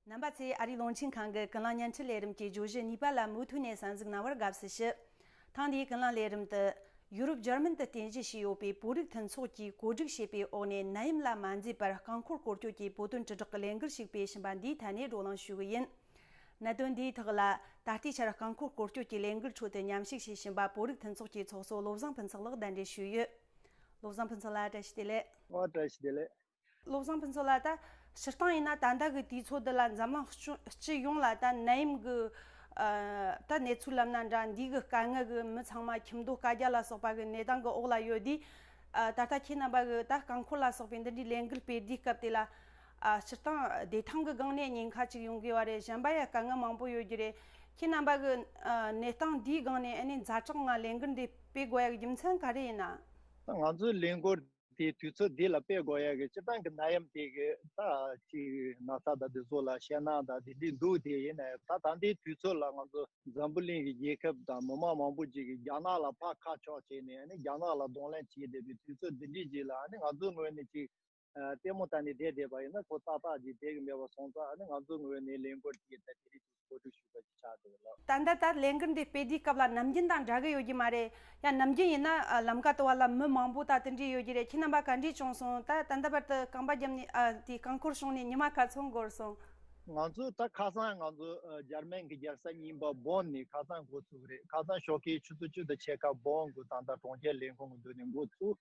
རྣམ་པ་ཚེ་ཨ་རིའི་རླུང་འཕྲིན་ཁང་གི་ཀུན་སློང་བརྙན་འཕྲིན་ལས་རིམ་གྱི་བརྗོད་གཞི་གཉིས་པ་ལ་མུ་མཐུད་ནས་གསར་འཛུགས་གནང་བར་དགའ་བསུ་ཞུ། ཐེངས་འདིའི་ཀུན་སློང་ལས་རིམ་དུ། ཡུ་རོབ་འཇར་མན་དུ་རྟེན་གཞི་བྱས་ཡོད་པའི་བོད་རིགས་མཐུན་ཚོགས་ཀྱིས་གོ་སྒྲིག་བྱས་པའི་འོག་ནས་ནད་ཡམས་ལ་མ་འཛེམས་པར་རྐང་འཁོར་སྐོར་སྐྱོད་ཀྱི་བོད་དོན་དྲིལ་བསྒྲགས་ལས་འགུལ་ཞིག་སྤེལ་བཞིན་པ་འདིའི་ཐད་ནས་བགྲོ་གླེང་ཞུ་གི་ཡིན། གནད་དོན་འདིའི་ཐོག་ལ། ད་ལྟའི་ཆར་རྐང་འཁོར་སྐོར་སྐྱོད་ཀྱི་ལས་འགུལ་ཁྲོད་དུ་ཉམས་ཞིབ་བྱེད་བཞིན་པ་བོད་རིགས་མཐུན་ཚོགས་ཀྱི་ཚོགས་གཙོ་བློ་བཟང་ཕུན་ཚོགས་ལགས་གདན་འདྲེན་ཞུས་ཡོད། བློ་བཟང་ཕུན་ཚོགས་ལགས་བཀྲ་ཤིས་བདེ་ལེགས། བཀྲ་ཤིས་བདེ་ལེགས། བློ་བཟང་ཕུན་ཚོགས་ལ་ད་ཕྱི་སྟངས་ཡིན་ན་ད་ལྟ་གི་དུས་ཚོད་འདི་ལ་འཛམ་གླིང་སྤྱི་ཡོངས་ལ་ད་ནད་ཡམས་ཀྱི་ད་གནས་ཚུལ་ལབ་ན་འདྲ་འདུས་གི་དཀའ་ངལ་གྱི་མི་ཚང་མ་ཁྱིམ་སྡོད་བཀའ་རྒྱ་ལ་སོགས་པ་གྱི་གནས་སྟངས་གྱི་འོག་ལ་ཡོད་དུས་ད་ལྟ་ཁྱེད་རྣམ་པ་གྱི་ད་རྐང་འཁོར་ལ་སོགས་པའི་འདི་འདྲའི་ལས་འགུལ་སྤེལ་དུས་སྐབས་དེ་ལ་ཕྱི་སྟངས་བདེ་ཐང་གི་སྒང་ནས་ཉེན་ཁ་ཅིག་ཡོང་གི་བ་རེད་གཞན་པ་ཡ་དཀའ་ངལ་མང་པོ་ཡོད་རྒྱུ་རེད་ཁྱེད་རྣམ་པ་གྱི་གནས་སྟངས་འདིའི་སྒང་ནས་ཨ་ནི་མཛའ་གྲགས་ངང་ལས་འགུལ་འདི་སྤེལ་དགོས་ཡག་རྒྱུ་མཚན་ག་རེ་ཡིན་ན། ང་ཚོའི་ལས་འགུལ་དེའི་དུས་ཚོད་འདི་ལ་དཔེ་དགོས་ཡ་གི་སྤྱིར་བཏང་གི་ན་ཡམ་དེ་གི་ད་ཅི་ན་ཚ་དང་དེ་ཚོ་ལ་ཤེས་ན་ད་དེ་འདི་འདུག་དེ་ཡིན་ནའི་ད་ད་འདི་དུས་ཚོད་ལ་ང་ཚོ་འཛམ་བུ་གླིང་གི་རྒྱལ་ཁབ་དང་མི་མང་མང་པོ་ཅིག་གི་རྒྱ་ནག་ལ་ཕར་ཁ་ཕྱོགས་བྱས་ནས་ཨ་ནི་རྒྱ་ནག་ལ་གདོང་ལེན་བྱེད་བསྡད་པའི་དུས་ཚོད་འདི་འདྲི་གཅིག་ལ་ཨ་ནི་ང་ཚོའི་ངོས་ནས་ཅིག་ལྟད་མོ་ལྟ་ནས་བསྡད་བསྡད་པ་ཡིན་ན་ཁོ་ཏག་ཏག་ཅིག་བསྡད་གི་མེད་པ་སོང་ཙང་ཨ་ནི་ང་ཚོའི་ངོས་ནས་ལན་བསྐུར་གྱི་ད་དེ་རིགས་ཅིག་བཀོད་སྒྲིག་ཞུས་པ་ཞིག་ཆགས་འདུག་ལགས། ད་ལྟ་ལྟར་ལས་འགུལ་འདི་སྤེལ་དུས་སྐབས་ལ་ནམ་རྒྱུན་དང་འདྲ་གི་ཡོད་ཀྱི་མ་རེད། ཡང་ནམ་རྒྱུན་ཡིན་ན་ལམ་ཁ་དོ་བ་ལ་མི་མང་པོ་དང་ལྟོས་འདྲིས་ཡོད་ཀྱི་རེད་ཁྱེད་རྣམ་པ་ག་འདྲིས་བྱུང་སོང་ད་ད་ལྟ་བར་དུ་རྐང་པ་རྒྱབ་ནས་དེ་རྐང་འཁོར་བྱུང་ནས་ཉི་མ་ག་ཚོད་འགོར་སོང། ང་ཚོ་ད་ཁ་སང་ང་ཚོ་འཇར་མན་གི་རྒྱལ་ས་ཉིན་པ་སྦོག་ནས་ཁ་སང་འགོ་ཚུགས་རེད་ཁ་སང་ཞོགས་ཀའི་ཆུ་ཚོད་བཅུ་དང་ཕྱེད་ཀ་སྦོག་འགོ་ད་ལྟ་གྲོང་ཁྱེར་ལས་ཁུངས་ཀྱི་མདུན་ནས་འགོ་ཚུགས།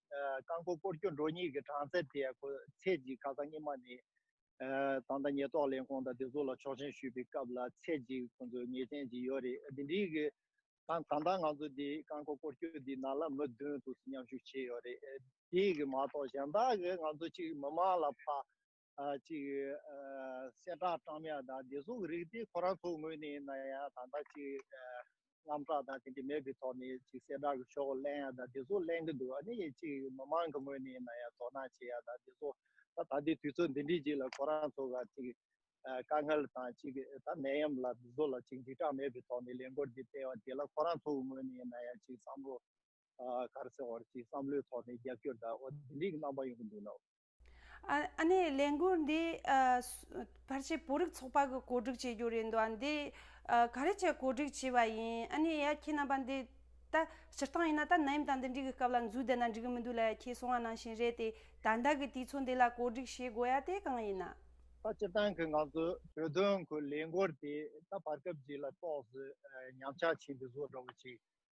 རྐང་འཁོར་སྐོར་སྐྱོད་འགྲོ་གཉིས་ཀྱི་གྲངས་ཚད་དེ་ཚེས་གཅིག་ཁ་སང་སྙེ་མ་ནས་ད་ལྟ་ཉེས་རྟོག་ལས་ཁུངས་དང་སྡེ་ཚོགས་ལ་ཆོག་མཆན་ཞུས་པའི་སྐབས་ལ་ཚེས་གཅིག་ཁོང་ཚོས་ངེས་ཅན་གྱི་ཡོད་རེད་དེ་འདྲའི་གི་ད་ད་ལྟ་ང་ཚོ་དེ་རྐང་འཁོར་སྐོར་སྐྱོད་དེ་ནང་ལ་མི་བདུན་དུ་མཉམ་ཞུགས་བྱས་ཡོད་རེད་དེ་གི་མ་གཏོགས་གཞན་དག་གི་ང་ཚོ་གཅིག་མི་མང་ལ་ཕ། གཅིག་གསལ་བསྒྲགས་བཀྲམ་ཡང་དང་བདེ་སྲུང་གི་རིགས་དེ་ཁོ་རང་ཚོ་ངོས་ནས་ན་ཡང་ད་ལྟ་གཅིག་རྔམ་སྟྲག་དང་དེ་འདྲ་མེད་པའི་ཐོག་ནས་གཅིག་གསལ་བསྒྲགས་ཀྱི་ཤོག་གླན་ཡང་དང་བདེ་སྲུང་གླན་གྱི་འདུག་ཨ་ནི་གཅིག་མི་མང་གི་ངོས་ནས་ན་ཡང་དོ་སྣང་བྱེད་ཡང་དང་བདེ་སྲུང་ད་ད་ལྟའི་དུས་ཚོད་འདི་འདྲའི་རྗེས་ལ་ཁོ་རང་ཚོ་ག་གཅིག་དཀའ་ངལ་དང་གཅིག་ད་ནད་ཡམས་ལ་དེ་ཚོ་ལ་གཅིག་འཇིགས་སྐྲག་མེད་པའི་ཐོག་ནས་ལས་འགོར་འདི་སྤེལ་བ་དེ་ལ་ཁོ་རང་ཚོ་ངོས་ནས་ན་ཡང་གཅིག་བསམ་བློ་གར་སེ་འོར་གཅིག་བསམ་བློའི་ཐོག་ནས་རྒྱབ་སྐྱོར་དང་འོ་དེ་འདྲའི་རྣམ་པ་ཡོང་གི་འདུག་ནའོ། ཨ་ནེ་ལས་འགུལ་འདི་ཕར་ཆེར་བོད་རིགས་ཚོགས་པ་གི་གོ་སྒྲིག་བྱེད་རྒྱུ་རེད་འདུག་འདི་ག་རེ་བཅས་གོ་སྒྲིག་བྱས་པ་ཡིན་ཨ་ནེ་ཡ་ཁྱེད་རྣམ་པ་འདི་ད་སྤྱིར་བཏང་ཡིན་ན་ད་ནད་ཡམས་དང་འདི་འདྲི་གི་སྐབས་ལ་འཛུལ་བསྡད་ན་འགྲིག་གི་མི་འདུག་ལ་ཡ་ཁྱེད་གསུང་བ་ནང་བཞིན་རེད་དེ་ད་ལྟ་གི་དུས་ཚོད་འདི་ལ་གོ་སྒྲིག་བྱེད་དགོས་ཡ་དེ་གང་ཡིན་ན། ད་སྤྱིར་བཏང་གི་ང་ཚོ་བོད་དོན་གི་ལས་འགུལ་དེ་ད་བར་སྐབས་འདི་ལ་གཏོགས་སུ་ཉམས་ཆག་ཆེན་པོས་བཟོ་འདྲ་བོ་ཅིག་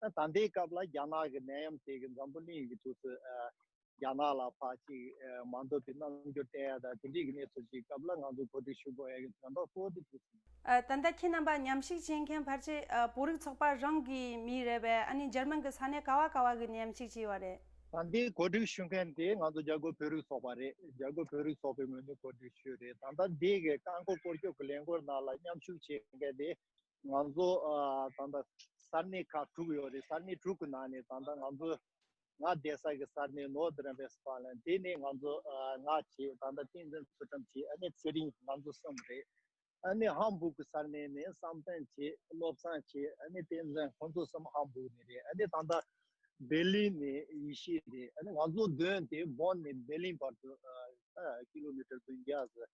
ད་ལྟའི་སྐབས་ལ་རྒྱ་ནག་གི་ནད་ཡམས་དེ་གི་འཛམ་བུ་གླིང་གི་ཐུགས་སུ་རྒྱ་ནག་ལ་ཕ་གཅིག་མ་འདོད་པའི་རྣམ་འགྱུར་བསྟན་ཡ་དང་དེ་འདྲིས་གི་གནས་ཚུལ་ཞིག་སྐབས་ལ་ང་ཚོ་གོ་སྒྲིག་ཞུ་དགོས་ཡ་གི་དོན་དག་གཙོ་བོ་དེ་དུས་ཟིན། ད་ལྟ་ཁྱེད་རྣམ་པ་ཉམས་ཞིག་བྱེད་མཁན་ཕར་ཆེ་བོད་རིགས་ཚོགས་པ་རང་གི་མི་རེད་པས་ཨ་ནི་ཇར་མན་གི་ས་གནས་ག་བ་ག་བ་གི་ནད་ཡམས་ཞིག་བྱས་བ་རེད། ད་ལྟའི་གོ་སྒྲིག་ཞུ་མཁན་དེ་ང་ཚོ་རྒྱ་གོ་བོད་རིགས་ཚོགས་པ་རེད་རྒྱ་གོ་བོད་རིགས་ཚོགས་པའི་ངོས་ནས་གོ་སྒྲིག་ཞུས་རེད་ད་ལྟ་འདི་གི་རྐང་འཁོར་སྐོར་སྐྱོད་གི་ལས་འགོར་ནང་ལ་མཉམ་ཞུགས་བྱེད་མཁན་དེ་ང་ཚོ་ད་ལྟ་ས་གནས་ཁག་དྲུག་ཡོད་རེད་ས་གནས་དྲུག་གི་ནང་ནས་ད་ལྟ་ང་ཚོ་ང་བསྡད་ས་གི་ས་གནས་ནོར་ཏེ་རན་བེ་སི་པ་ལན་དེ་ནས་ང་ཚོ་ང་བྱེད་ད་ལྟ་ཏིང་ཙན་ཚུལ་ཁྲིམས་བྱེད་ཨ་ནེ་ཚེ་རིང་ང་ཚོ་གསུམ་རེད་ཨ་ནེ་ཧམ་སྦུག་གི་ས་གནས་ནས་བསམ་གཏན་བྱེད་བློ་བཟང་བྱེད་ཨ་ནེ་ཏིང་ཙན་ཁོང་ཚོ་གསུམ་ཧམ་སྦུག་ནས་རེད་ཨ་ནེ་ད་ལྟ་སྦེར་ལིན་ནས་ཡེ་ཤེས་རེད་ཨ་ནེ་ང་ཚོ་བདུན་དེ་བོན་ནས་སྦེར་ལིན་བར་དུ་ཀི་ལོ་མི་ཀྲི་བདུན་བརྒྱ་ཟེར་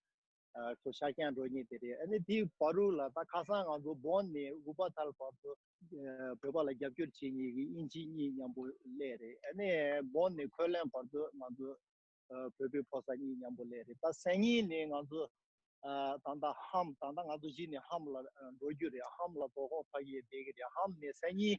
ཁོ་ཤཱཀྱ་འགྲོ་གཉིས་དེ་རེད་ཨ་ནི་དེའི་བ་རུ་ལ་ད་ཁ་སང་ང་ཚོ་བོད་ནས་ཨུ་པ་ཐལ་བར་དུ་བོད་པ་ལ་རྒྱབ་སྐྱོར་བྱེད་གཉིས་ཀྱི་དབྱིན་ཇི་གཉིས་མཉམ་པོ་སླེ་རེད་ཨ་ནི་བོད་ནས་ཁོད་ལན་བར་དུ་ང་ཚོ་བོད་པའི་ཕོ་སར་གཉིས་མཉམ་པོ་སླེ་རེད་ད་སེང་གཉིས་ནས་ང་ཚོ་ད་ལྟ་ཧམ་ད་ལྟ་ང་ཚོ་གཞི་ནས་ཧམ་ལ་འགྲོ་རྒྱུ་རེད་ཧམ་ལ་དོ་ཁོང་ཕ་གིའི་སྡེ་གི་རེད་ཧམ་ནས་སེང་གཉིས་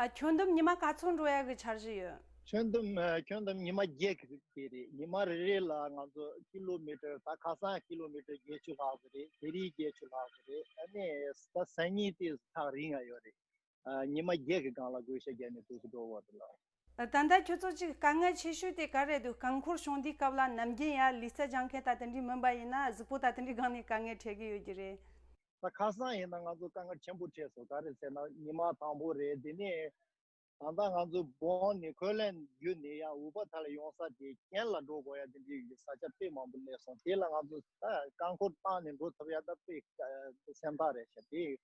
ཨ་ཁྱོད་འདོམས་ཉི་མ་ག་ཚོད་འགྲོ་ཡག་གི་འཆར་གཞི་ཡོད། ཁྱོད་འདོམས་ཁྱོད་འདོམས་ཉི་མ་བརྒྱད་ཁ་གི་རེད་ཉི་མ་རེ་རེ་ལ་ང་ཚོ་ཁི་ལོ་མི་ཀྲི་ད་ཁ་སང་ཁི་ལོ་མི་ཀྲི་བརྒྱད་ཅུ་ལྷག་གི་རེད་དེ་རིང་བརྒྱད་ཅུ་ལྷག་གི་རེད་ཨ་ནི་ད་སང་ཉིན་དེ་ཐག་རིང་ཡག་ཡོད་རེད་ཉི་མ་བརྒྱད་གི་སྒང་ལ་དགོས་ཤ་རྒྱག་ནས་དུས་སུ་འགྲོ་འོ་རེད་ལགས། ད་ལྟ་ཁྱོད་ཚོ་གཅིག་དཀའ་ངལ་ཆེ་ཤོས་དེ་ག་རེད་འདུག་རྐང་འཁོར་གཤོང་དུས་སྐབས་ལ་ནམ་རྒྱུན་ཡར་ལི་རྩྭ་སྦྱང་མཁན་ད་དེ་འདྲི་མིན་པ་ཡིན་ན་གཟུགས་པོ་ད་དེ་འདྲི་སྒང་ནས་དཀའ་ངལ་འཕྲད་གི་ཡོད་ཀྱི་རེད། ད་ཁ་སང་ཡིན་ན་ང་ཚོ་དཀའ་ངལ་ཆེན་པོ་འཕྲད་སོང་ག་རེད་ཟེར་ན་ཉི་མ་དང་པོ་རེད་དེ་ནས་ད་ལྟ་ང་ཚོ་བོང་ནི་ཁོལ་ལན་རྒྱུ་ནས་ཡང་འུར་པ་ད་ལ་ཡོང་ས་དེ་གྱེན་ལ་འགྲོ་དགོས་ཡ་དེ་འདྲི་ཡོད་ཀྱི་ས་ཆ་དཔེ་མང་པོ་གླས་སོང་དེ་ལ་ང་ཚོ་རྐང་འཁོར་བཏང་ནས་འགྲོ་ཐུབ་ཡ་ད་དཔེ་སེམས་ཐག་རེད་བྱ་དེ།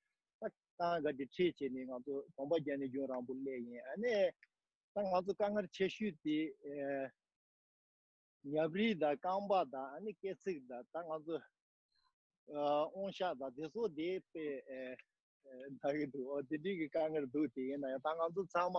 ཏང་ག་དེ་ཁྲིད་བྱས་ནས་ང་ཚོ་གོམ་པ་རྒྱ་ནས་རྒྱུན་རང་བོར་སླེབས་ཡིན་ཨ་ནས། ད་ང་ཚོ་དཀའ་ངར་ཆེ་ཤོས་དེ། ཉབ་རིས་དང་རྐང་པ་དང་ཨ་ནི་སྐེ་ཚིགས་དང་ད་ང་ཚོ། ཨོང་ཤ་དང་དེ་ཚོ་དེ་དཔེ། ད་གི་འདུག་ཨོ་དེ་དུས་ཀྱི་དཀའ་ངར་འདུག་དེ་ཡིན་ན་ཡང་ད་ང་ཚོ་ཚང་མ།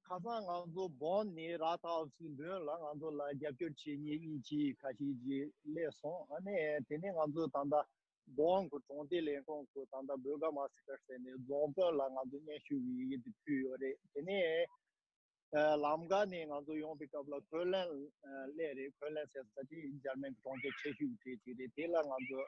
ཁ་སང་ང་ཚོ་བོད་ནས་ར་ཐའོ་སི་མདུན་ལ་ང་ཚོ་ལ་རྒྱབ་སྐྱོར་བྱེད་ངེས་ཡིན་ཅེས་ཁ་ཤིག་ཅིག་གླས་སོང། ཨ་ནེ། དེ་ནས་ང་ཚོས་ད་ལྟ་རྫོང་གི་གྲོང་སྡེ་ལས་ཁུངས་སུ་ད་ལྟ་བོད་སྒར་མ་སི་ཀར་ཟེར་ནས་རྫོང་དཔོན་ལ་ང་ཚོས་སྙན་ཞུ་ཡི་ཡི་དེ་ཕུལ་ཡོད་རེད། དེ་ནས་ལམ་ཀ་ནས་ང་ཚོ་ཡོང་པའི་སྐབས་ལ་ཁོས་ལན་གླས་རེད་ཁོས་ལན་ཟེར་ས་དེ་འཇར་མན་གྱི་གྲོང་ཁྱེར་ཆེ་ཤོས་ཀྱི་གྲས་ཅིག་རེད་དེ་ལ་ང་ཚོས་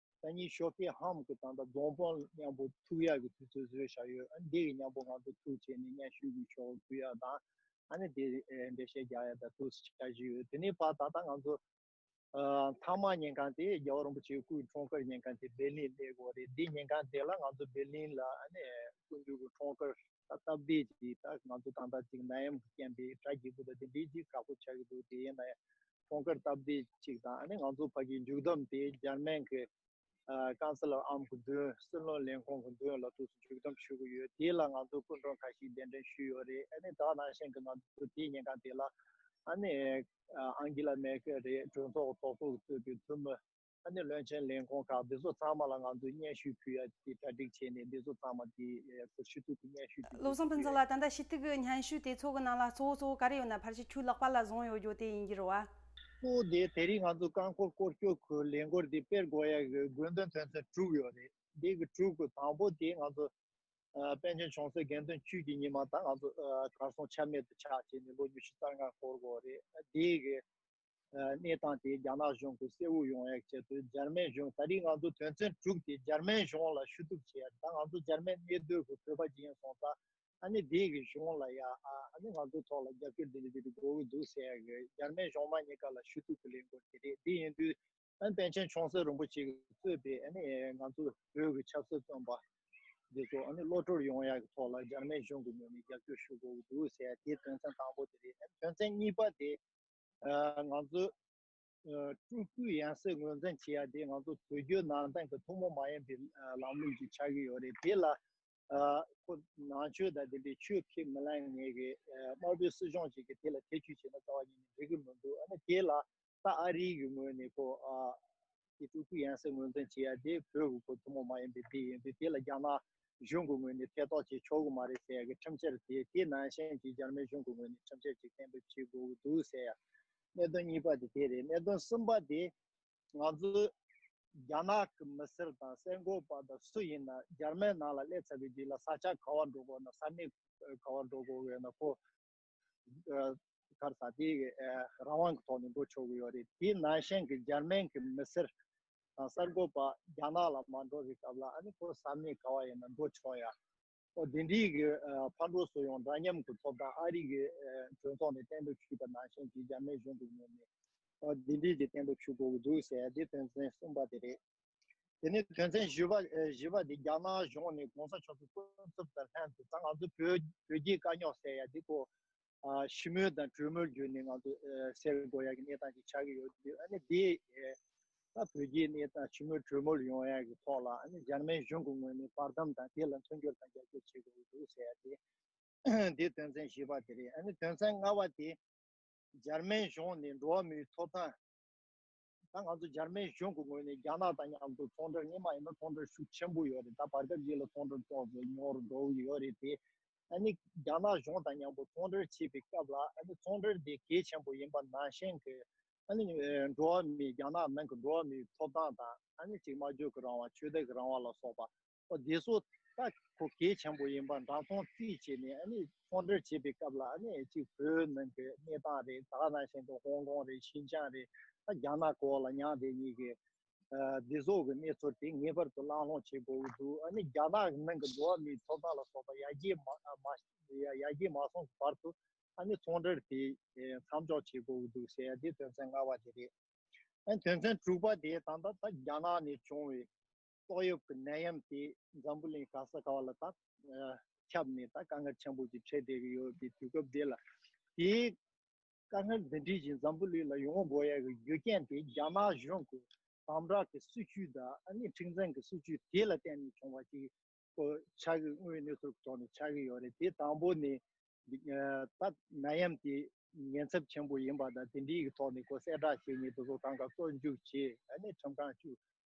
ད་ཉིད་ཤོ་ཕེ་ཧམ་གྱི་ཐང་དང་རྫོང་དཔོན་མཉམ་པོ་ཐུག་ཡག་གི་དུས་ཚོད་བཟོས་བཞག་ཡོད་ཨ་ནི་དེ་ཡི་མཉམ་པོ་ང་ཚོ་ཐུག་བྱས་ནས་སྙན་ཞུ་གི་ཆོག་གུ་ཡག་དང་ཨ་ནི་དེ་འབྲེལ་བཤད་རྒྱག་ཡག་དང་ཐུག་བྱ་བཞིན་ཡོད་དེ་ནི་བར་ད་ལྟ་ང་ཚོ་ཐང་མ་ཉན་ཁང་དེ་རྒྱལ་བ་རིན་པོ་ཆེའི་སྐུའི་འཁྲུངས་སྐར་ཉན་ཁང་དེ་སྦེར་ལིན་གནས་སྐོར་རེད་འདི་ཉན་ཁང་དེ་ལ་ང་ཚོ་སྦེར་ལིན་ལ་ཨ་ནི་སྐུ་མདུན་གྱི་འཁྲུངས་སྐར། ད་སྟབས་བདེ་ཅིག་ད་ང་ཚོ་ཐང་ཐང་ཅིག་ན་ཡམ་གྱི་སྐྱེན་པའི་དགྲ་སྐྱིད་པོ་དང་དེ་འདྲའི་ཅིག་དྲག་པོ་ཆགས་ཀྱི་འདུག་དེ་ཡིན་ན་ཡང་ཁོང་ཁར་སྟབས་བདེ་ཅིག་དང་ཨ་ནི་ང་ཚོ་བར་གྱི་མཇུག་བསྡོམས་དེ་འཇར་མན་གྱི་ཀང་སི་ལོར་ཨམ་གྱི་མདུན་སྲིད་བློན་ལེན་ཁོང་གི་མདུན་ལ་ཐུགས་སུ་མཇུག་བསྡོམས་ཞུ་གི་ཡོད་དེ་ལ་ང་ཚོ་སྐུ་མགྲོན་ཁ་ཤིག་གདན་འདྲེན་ཞུས་ཡོད་རེད་ཨ་ནི་དག་ནང་བཞིན་གྱི་ང་ཚོ་དེའི་ཉིན་གང་དེ་ལ་ཨ་ནི་ཨང་གི་ལ་མེར་ཀེལ་རེད་གྲོས་ཚོགས་གྲོགས་ཚོགས་གཙོས་པའི་འཐུས་མི། ད་ནི་བློན་ཆེན་ལས་ཁོང་ཁག་འདི་ཚོ་ཚང་མ་ལ་ང་ཚོས་སྙན་ཞུ་ཕུལ་ཡ་དེ་གྲ་སྒྲིག་བྱས་ནས་འདི་ཚོ་ཚང་མ་དེ་ཚོར་ཞུ་གཏུག་གི་སྙན་ཞུ་དེ་བློ་བཟང་ཕུན་ཚོགས་ལ་ད་ལྟ་ཞུ་གཏུག་གི་སྙན་ཞུ་དེ་ཚོ་གི་ནང་ལ་གཙོ་བོ་གཙོ་བོ་ག་རེ་ཡོད་ན་ཕར་ཆུ་ཕྲུག་ལག་པ་ལ་བཟུང་ཡོད་རྒྱུ་དེ་ཡིན་རྒྱུ་རུ་བ། གཙོ་བོ་དེ་དེ་རིང་ང་ཚོ་རྐང་འཁོར་སྐོར་སྐྱོད་ཁུལ་ལས་འགོར་དེ་དཔེར་དགོས་ཡ་གི་དགོས་འདུན་དོན་ཚན་དྲུག་ཡོད་རེད་དེ་གི་དྲུག་གི་དང་པོ་དེ་ང་ཚོ་པན་ཆེན་ཆུང་སྲས་དགེ་འདུན་བཅུད་ཀྱི་ཉི་མ་དང་ང་ཚོ་གར་སོང་ཆ་མེད་དུ་ཆགས་བྱས་ནས་ལོ་ཉི་ཤུ་རྩ་ལྔ་འཁོར་དགོས་རེད་དེ་གི། གནས་སྟངས་དེ་རྒྱ་ནག་གཞུང་གིས་གསལ་བོ་ཡོང་ཡག་བྱེད་དུས་འཇར་མན་གཞུང་ད་རིང་ང་ཚོ་དོན་ཚན་དྲུག་དེ་འཇར་མན་གཞུང་ལ་ཞུ་གཏུག་བྱེད་ཡག་ད་ང་ཚོ་འཇར་མན་གནས་སྡོད་ཀྱི་བོད་པ་གཅིག་ཡིན་སོང་ཙང་ཨ་ནི་སྡེ་གི་གཞུང་ལ་ཡ་ཨ་ནི་ང་ཚོ་ཐོག་ལ་རྒྱབ་སྐྱོར་འདི་འདྲ་འདི་འདྲ་དགོས་ཀྱི་འདུག་ཟེར་ཡག་གི་འཇར་མན་གཞུང་མ་གཉིས་ཀ་ལ་ཞུ་གཏུག་གི་ལས་འགུལ་དེ་རེད་འདི་ཡིན་དུས་ཨ་ནི་པན་ཆེན་ཆོང་གསེར་རིན་པོ་ཆེ་གིས་གཙོས་པའི་ཨ་ནི་ང་ཚོ་བོད་ཀྱི་ཆབ་སྲིད་བཙོན་པ་འདི་ཚོ་ཨ་ནི་བློ་གྲོས་ཡོང་ཡག་གི་ཐོག་ལ་འཇར་མན་གཞུང་གི་ངོས་ནས་རྒྱབ་སྐྱོར་ཞུ་དགོས་ཀྱི་འདུག་ཟེར་ཡག་དེ་དོན་ཚན་དང་པོ་དེ་རེད་ཨ་ནི་དོན་ཚན་གཉིས་པ་དེ། ང་ཚོས་སྤྲུལ་སྐུའི་ཡང་སྲིད་ངོས་འཛིན་བྱེད་ཡ་དེ་ང་ཚོ་བོད་བརྒྱུད་ནང་བསྟན་གྱི་ཐུན་མོང་མ་ཡིན་པའི་ལམ་ལུགས་ཀྱི་ཆགས་ཀྱི་ཡོད་རེད་དེ་ལ་ཁོ་ནང་ཆོས་དང་ལྡན་པའི་ཆོས་ཁས་མི་ལེན་ངེས་གི་དམར་པོའི་སྲིད་གཞུང་ཞིག་གི་དེ་ལ་ཐེ་བྱུས་བྱེད་ན་རྩ་བ་ཉིད་ནས་འགྲིག་གི་མི་འདུག་ཨ་ནི་དེ་ལ་ད་ཨ་རིའི་ངོས་ནས་ཁོ་དེ་སྤྲུལ་སྐུའི་ཡང་སྲིད་ངོས་འཛིན་བྱེད་ཡ་དེ་བོད་དབུལ་པོ་ཐུན་མོང་མ་ཡིན་པའི་སྡེ་ཡིན་དུས་དེ་ལ་རྒྱ་ནག་གཞུང་གི་ངོས་ནས་ཐེ་གཏོགས་བྱེད་ཆོག་གི་མ་རེད་ཟེར་ཡ་གི་ཁྲིམས་བཤེར་དེ་དེ་ནང་བཞིན་གྱི་འཇར་མན་གཞུང་གི་ངོས་ནས་ཁྲིམས་བཤེར་ཅིག་གཏན་འབེབས་བྱེད་དགོས་ཀྱི་འདུག་ཟེར་ཡ། གནད་དོན་གཉིས་པ་དེ་དེ་རེད་གནད་དོན་གསུམ་པ་དེ། ང་ཚོས་རྒྱ་ནག་གི་མི་སེར་དང་གསལ་འགོད་པ་དང་སུ་ཡིན་ན་འཇར་མན་ནང་ལ་སླེབས་ཚར་བའི་དུས་ལ་ས་ཆ་ག་བར་འགྲོ་དགོས་ན་ས་གནས་ག་བར་འགྲོ་དགོས་ཡོད་ན་གོ། ཁར་ས་དེའི་རང་དབང་གི་ཐོག་ནས་འགྲོ་ཆོག་གི་ཡོད་རེད་དེའི་ནང་ཞེན་གི་འཇར་མན་གི་མི་སེར་དང་གསར་འགོད་པ་རྒྱ་ནག་ལ་མ་འགྲོ་བའི་སྐབས་ལ་ཨ་ནི་ཁོ་ས་མིག་ག་བ་ཡིན་ན་འགྲོ་ཆོག་ཡ། ཨོ་དེ་འདྲའི་གི་ཕར་འགྲོ་སུ་ཡོང་འདྲ་མཉམ་གི་ཐོབ་ཐང་ཨ་རིག་གི་གྲོས་ཚོགས་ནས་གཏན་འབེབས་ཞུས་པ་ནང་ཞེན་གི་འཇར་མན་གཞུང་གི་ངོས་ནས་ཨོ་དེ་འདྲའི་གི་གཏན་འབེབས་ཞུ་དགོས་གི་འདུག་ཟེར་ཡ་དེ་དོན་ཚན་གསུམ་པ་དེ་རེད། དེ་ནས་དོན་ཚན་བཞི་པ་བཞི་པ་དེ་རྒྱ་ནག་གཞུང་ནས་གོང་ས་མཆོག་གི་སྐུ་ཚབ་དང་ལྷན་དུ་ད་ང་ཚོ་བོད་བོད་ཀྱི་དཀའ་རྙོག་སེལ་ཡ་དེ་ཁོ་ཞི་མོལ་དང་གྲོས་མོལ་བརྒྱུད་ནས་ང་ཚོ་སེལ་དགོས་ཡ་གི་གནས་སྟངས་ཅིག་ཆགས་ཀྱི་ཡོད་དུས་ཨ་ནི་དེ་ད་བོད་ཀྱི་གནས་སྟངས་ཞི་མོལ་གྲོས་མོལ་ཡོང་ཡ་གི་ཐོག་ལ་ཨ་ནི་འཇར་མན་གཞུང་གི་ངོས་ནས་བར་འདམ་དང་དེ་ལ་མཐུན་འགྱུར་དང་རྒྱབ་སྐྱོར་བྱེད་དགོས་ཀྱི་འདུག་ཟེར་ཡ་དེ་དེ་དོན་ཚན་བཞི་པ་དེ་རེད་ཨ་ནི་དོན་ཚན་ལྔ་བ་དེ་འཇར་མན་གཞུང་ནས་འགྲོ་བ་མིའི་ཐོབ་ཐང། ད་ང་ཚོ་འཇར་མན་གཞུང་གི་ངོས་ནས་རྒྱ་ནག་དང་མཉམ་དུ་ཚོང་འབྲེལ་གཉིས་མ་ཡིན་ན་ཚོང་འབྲེལ་ཤུགས་ཆེན་པོ་ཡོད་རེད་ད་བར་སྐབས་ཤིག་ལ་ཚོང་འབྲེལ་ཚོགས་པའི་མྱོང་རོལ་འགྲོ་ཡི་ཡོད་རེད་དེ། ཨ་ནི་རྒྱ་ནག་གཞུང་དང་མཉམ་པོ་ཚོང་འབྲེལ་བྱེད་པའི་སྐབས་ལ་ཨ་ནི་ཚོང་འབྲེལ་དེ་གལ་ཆེན་པོ་ཡིན་པ་ནང་བཞིན་གྱི་ཨ་ནི་འགྲོ་བ་མིའི་རྒྱ་ནག་ནང་གི་འགྲོ་བ་མིའི་ཐོབ་ཐང་དང་ཨ་ནི་གཅིག་མ་འཇོག་གི་རང་དབང་ཆོས་དད་ཀྱི་རང་དབང་ལ་སོགས་པ་བདེ་གསོ་ད་གོ་གལ་ཆེན་པོ་ཡིན་པ་འདྲ་མཐོང་རྩིས་བྱས་ནས་ཨ་ནི་ཚོང་འབྲེལ་བྱེད་པའི་སྐབས་ལ་ཨ་ནི་གཅིག་བོད་ནང་གི་གནས་སྟངས་རེད་ད་ང་རང་བཞིན་དུ་ཧོང་ཀོང་རེད་ཤིན་ཅང་རེད་ད་རྒྱ་ནག་གོ་ལ་ཉག་དེ་གཉིས་ཀྱི་བདེ་གསོ་གི་གནས་ཚུལ་དེ་ངེས་པར་དུ་བླང་སློང་བྱེད་དགོས་ཀྱི་འདུག་ཨ་ནི་རྒྱ་ནག་ནང་གི་འགྲོ་བ་མིའི་ཐོབ་ཐང་ལ་སོགས་པ་ཡར་རྒྱས་མ་ཡར་རྒྱས་མ་སོང་གི་བར་དུ་ཨ་ནི་ཚོང་འབྲེལ་དེ་མཚམས་འཇོག་བྱེད་དགོས་ཀྱི་འདུག་ཟེར་དེ་དོན་ཚན་ལྔ་བ་དེ་རེད། ཨ་ནི་དོན་ཚན་དྲུག་པ་དེ་ད་ལྟ་ད་རྒྱ་ནག་ནས་བྱུང་བའི་ཏོག་དབྱིབས་ཀྱི་ནད་ཡམས་དེས་འཛམ་བུ་གླིང་ག་ས་ག་བ་ལ་དག་ཁྱབ་ནས་དག་དཀའ་ངལ་ཆེན་པོ་ཞིག་འཕྲད་བསྡད་ཀྱི་ཡོད་པའི་དུས་སྐབས་འདི་ལ། དེའི་དཀའ་ངལ་འདི་འདྲའི་བཞིན་འཛམ་བུ་གླིང་ལ་ཡོང་བ་འགོ་ཡག་གི་རྒྱུ་རྐྱེན་དེ་རྒྱ་ནག་གཞུང་གི་དམ་བསྒྲགས་ཀྱི་སྲིད་བྱུས་དང་ཨ་ནི་ཁྲིག་འཛིན་གྱི་སྲིད་བྱུས་དེ་ལ་བརྟེན་ནས་བྱུང་བ་ཞིག་གོ་ཆགས་ཀྱི་དངོས་གནས་ཚུལ་གྱི་ཐོག་ནས་ཆགས་ཀྱི་ཡོད་རེད་དེ་དང་པོ་ནི། དག་ནད་ཡམས་དེ་ཉེན་ཚབས་ཆེན་པོ་ཡིན་པ་དང་དེ་འདྲའི་ཐོག་ནས་གོ་གསལ་བསྒྲགས་བྱས་ཉེས་དུ་ཟོག་གྲངས་ཀ་གསོག་འཇུག་བྱས་ཨ་ནི་ཁྲིམས་ཁང་བཅུ།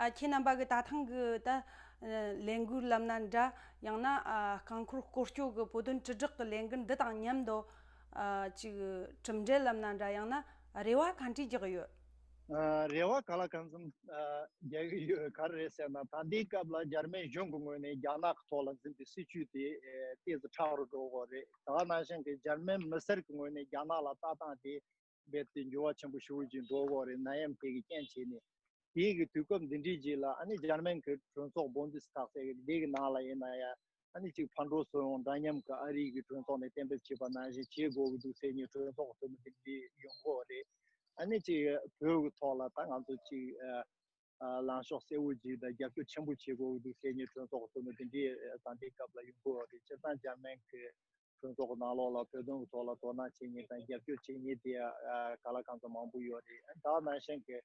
ཁྱེད་རྣམ་པ་གི་ད་ཐེངས་ཀྱི་ལས་འགུལ་ལམ་སྣ་འདྲ་ཡང་ན་རྐང་འཁོར་སྐོར་སྐྱོད་ཀྱི་བོད་དོན་དྲིལ་བསྒྲགས་ཀྱི་ལས་འགུལ་འདི་དང་མཉམ་དུ་གཅིག་གྲུབ་འབྲས་ལམ་སྣ་འདྲ་ཡང་ན་རེ་བ་གང་དྲིས་རྒྱག་གི་ཡོད། རེ་བ་ག་ལ་གང་འཚམ་རྒྱག་གི་ཡོད་ག་རེད་ཟེར་ན་ད་ལྟའི་སྐབས་ལ་འཇར་མན་གཞུང་གི་ངོས་ནས་རྒྱ་ནག་གི་ཐོག་ལ་འཛིན་པའི་སྲིད་བྱུས་དེ་ལྟས་ཟིག་ཁྲག་རུ་བསྒྲོ་གི་རེད་ད་ནང་བཞིན་གྱི་འཇར་མན་མི་སེར་གྱི་ངོས་ནས་རྒྱ་ནག་ལ་ལྟ་སྟངས་དེ་རྦད་དེ་འགྱུར་བ་ཆེན་པོ་ཞུགས་ཀྱིན་འགྲོ་བོ་རེད་ན་ཡམ་ཁེ་གི་རྐྱེན་བྱས་ནས་དེའི་གི་དུས་སྐབས་འདི་འདྲིའི་རྗེས་ལ་ཨ་ནི་འཇར་མན་གི་གྲོས་ཚོགས་བོན་དུས་ཐག་ཚད་གི་དེ་གི་ནང་ལ་ཡིན་ན་ཡ་ཨ་ནི་གཅིག་ཕར་འགྲོ་ཚུར་འོང་འདྲ་མཉམ་གི་ཨ་རིའི་གི་གྲོས་ཚོགས་ནས་གཏན་འབེབས་བྱས་པ་ནང་བཞིན་བྱེད་དགོས་གི་འདུག་སེ་ཉིན་གྲོས་ཚོགས་འཐུས་མི་དེ་འདྲི་ཡོང་དགོས་རེད་ཨ་ནི་གཅིག་བོད་གི་ཐོག་ལ་ད་ང་ཚོ་གཅིག། ལངས་ཕྱོགས་གསལ་བོ་ཅིག་དང་རྒྱབ་སྐྱོར་ཆེན་པོ་བྱེད་དགོས་འདུག་ཟེར་ནས་གྲོས་ཚོགས་གཙོ་མོ་དེ་འདྲའི་དང་དེའི་སྐབས་ལ་ཡོང་དགོས་རེད་སྤྱིར་བཏང་འཇར་མན་གྱི་གྲོས་ཚོགས་ནང་ལོགས་ལ་བོད་དོན་གྱི་ཐོག་ལ་དོ་སྣང་བྱེད་ཉེས་དང་རྒྱབ་སྐྱོར་བྱེད་ཉེས་དེ་ག་ལ་གང་ཙམ་མང་པོ་ཡོད་རེད་ད་ནང་བཞིན་གྱི་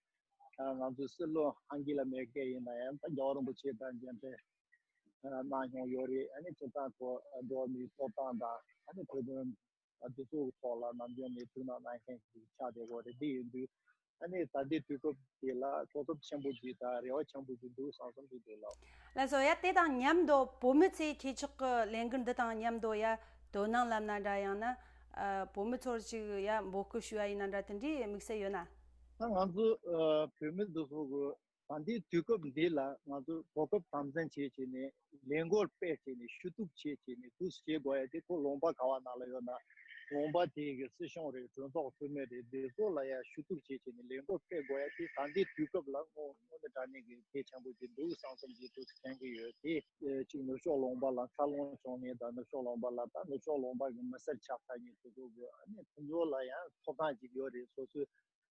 ང་ཚོའི་སྲིད་བློན་ཨང་གི་ལ་མེར་ཀེལ་ཡིན་ན་ཡང་ད་རྒྱ་བ་རིན་པོ་ཆེ་དང་མཇལ་འཕྲད་གནང་མྱོང་ཡོད་རེད་ཨ་ནི་སྤྱིར་བཏང་གོ་འགྲོ་མིའི་ཐོབ་ཐང་དང་ཨ་ནི་བོད་དོན་དེ་ཚོ་གི་ཐོག་ལ་ནམ་རྒྱུན་ནས་ཐུགས་སྣང་གནང་མཁན་གྱི་ཆ་དེ་གོ་རེ་འདི་ཡིན་དུས། ཨ་ནི་ད་ལྟའི་དུས་སྐབས་འདི་ལ་གོ་སྐབས་ཆེན་པོ་གྱིས་དང་རེ་བ་ཆེན་པོ་གྱིས་འདུག་བཟང་གསུམ་གྱི་འདུག་ལགས། ལ་བཟོ་ཡ་དེ་དང་མཉམ་དུ་བོད་མི་ཚོས་ཁྱེད་ཅག་གི་ལས་འགུལ་འདི་དང་མཉམ་དུ་ཡ་དོ་སྣང་ལབ་ན་འདྲ་ཡང་ན་བོད་མི་ཚོར་ཅིག་ཡ་འབོད་སྐུལ་ཞུ་ཡ་ཡིན་ན་འདྲ་དེ་འདྲའི་དམིགས་བསལ་ཡོད་ན། ང་ཚོ་བོད་མི་འདི་ཚོ་གི་ད་འདི་དུས་སྐབས་འདི་ལ་ང་ཚོས་གོ་སྐབས་དམ་འཛིན་བྱེད་ཆེད་ནས་ལས་འགོར་སྤེལ་ཆེད་ནས་ཞུ་གཏུག་བྱེད་ཆེད་ནས་འདུག་ཟེར་དགོས་ཡ་དེ་ཁོ་ལུང་པ་ག་བ་ན་ལ་ཡོད་ན་ལུང་པ་དེ་གི་སྲིད་གཞུང་རེད་གྲོས་ཚོགས་འཐུས་མི་རེད་དེ་ཚོ་ལ་ཡ་ཞུ་གཏུག་བྱེད་ཆེད་ནས་ལས་འགོ་སྤེལ་དགོས་ཡ་དེ་ད་འདི་དུས་སྐབས་ལ་དངོས་དངོས་ནས་དྲ་གནས་གི་གལ་ཆེན་པོ་དེ་འདུག་གསང་རྩོམ་གྱི་དུས་སུ་དྲན་གི་ཡོད་དེ། གཅིག་ནུབ་ཕྱོགས་ལུང་པ་ལ་འཚར་ལོངས་བྱུང་མེད་ད་ནུབ་ཕྱོགས་ལུང་པ་ལ་ད་ནུབ་ཕྱོགས་ལུང་པ་གི་མི་སེར་ཆགས་ཐག་ཉེ་དུ་དགོས་དགོས་ཨ་ནི་ཁོ་ཚོ་ལ་ཡང་ཐོབ་ཐང་གཅིག་ཡོད་རེད་སོ་སོའི་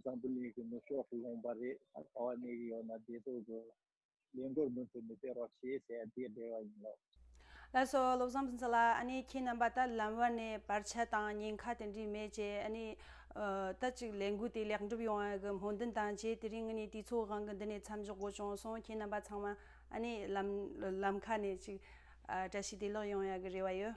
འཛམ་བུ་གླིང་གི་ནུབ་ཕྱོགས་སུ་ལྷུང་བ་རེད་ད་ག་བ་གནས་ཀྱི་ཡོད་ན་བདེ་སྡུག་གི་ལས་མགོར་མུ་མཐུད་མི་སྟེར་རོགས་ཞེས་ཟེར་ཡ་དེ་རེད་བ་ཡིན་ལོ། ལགས་སོ་བློ་བཟང་འཛིན་ལགས་ཨ་ནི་ཁྱེད་རྣམ་པ་ད་ལམ་བར་ནས་བར་ཆད་དང་ཉེན་ཁ་དེ་འདྲས་མེད་ཅེས་ཨ་ནི་ད་ཅིག་ལས་འགུལ་དེ་ལེགས་འགྲུབ་ཡོང་བའི་གི་སྨོན་འདུན་དང་བཅས་དེ་རིང་ངི་ནི་དུས་ཚོགས་གང་གི་འདི་ནས་མཚམས་འཇོག་དགོས་བྱུང་སོང་ཁྱེད་རྣམ་པ་ཚང་མ་ཨ་ནི་ལམ་ལམ་ཁ་ནས་ཅིག་བཀྲ་ཤིས་བདེ་ལེགས་ཡོང་ཡ་གི་རེད་བ་ཡོད།